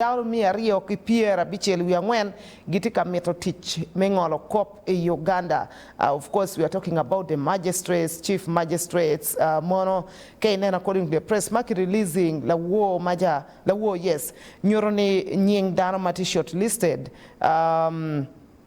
Cauru miya aryo ki pyer abicel wiye angwen gitye ka mito tic me ngolo kop i Uganda of course we are talking about the magistrates, chief magistrates mono ka ineno according to the press ma ki releasing lawor maja lawor yes nyuto ni nying dano ma tye shortlisted umm.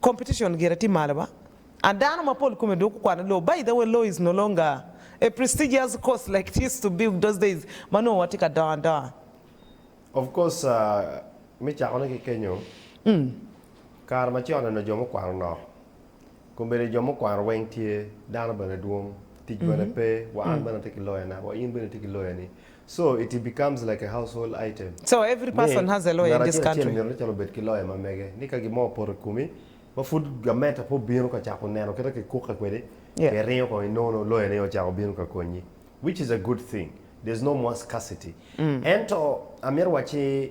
competition gire tye malo ba and dano mapol kome dong gukwano law, by the way law is no longer a prestigious course like it used to be those days ma nongo watye ka dongo adonga. Of course me cako ne ki kenyo, kare ma con eno jo mukwano nok kombeddi jo mukwano weng tye, dano bene dwong, tic bene pe, wa an bene atye ki lawyer na, wa in bene itye ki lawyer ni, So, it becomes like a household item. So, every Ni, person has a lawyer ngat in this acel acel country. mito ni calo obed ki loya ma mege, ni ka gin mo opoto i komi, ma pud gamenta pe obino ka cako neno kit ma kikukke kwede, Yeah. pe iringo kong inono, loyani aye ocako bino ka konyi. Which is a good thing. There's no more scarcity. Ento, amito wacci,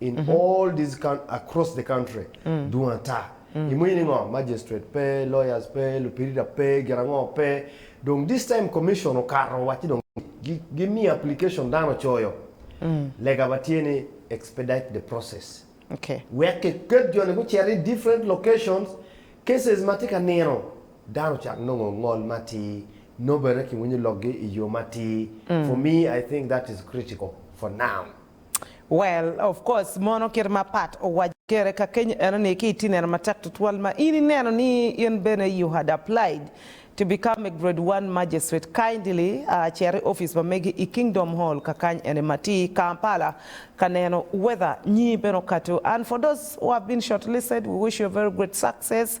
in all these coun across the country dwong ata. Imwinyo ni ngo? Magistrate pe, lawyers pe, lupirita pe, gin ango pe. Dong this time commission okato owacci dong gi gimiyo application dano ocoyo. Lega ba tye ni expedite the process. Okay. Wek kiket jo ni gucit i different locations, cases ma tye ka nino dano ocak nongo ngol matir, nobene kiwinyo lokgi i yo matir. For me I think that is critical for now. Well, of course, mono kit ma Pat owaco kere kakeny eno ni ki itye neno matek tutwal ma in ineno ni in bene you had applied to become a grade one magistrate, kindly cer i office pa megi i Kingdom Hall kakany eni ma tye i Kampala ka neno whether nyi bene okato and for those who have been shortlisted we wish you a very great success.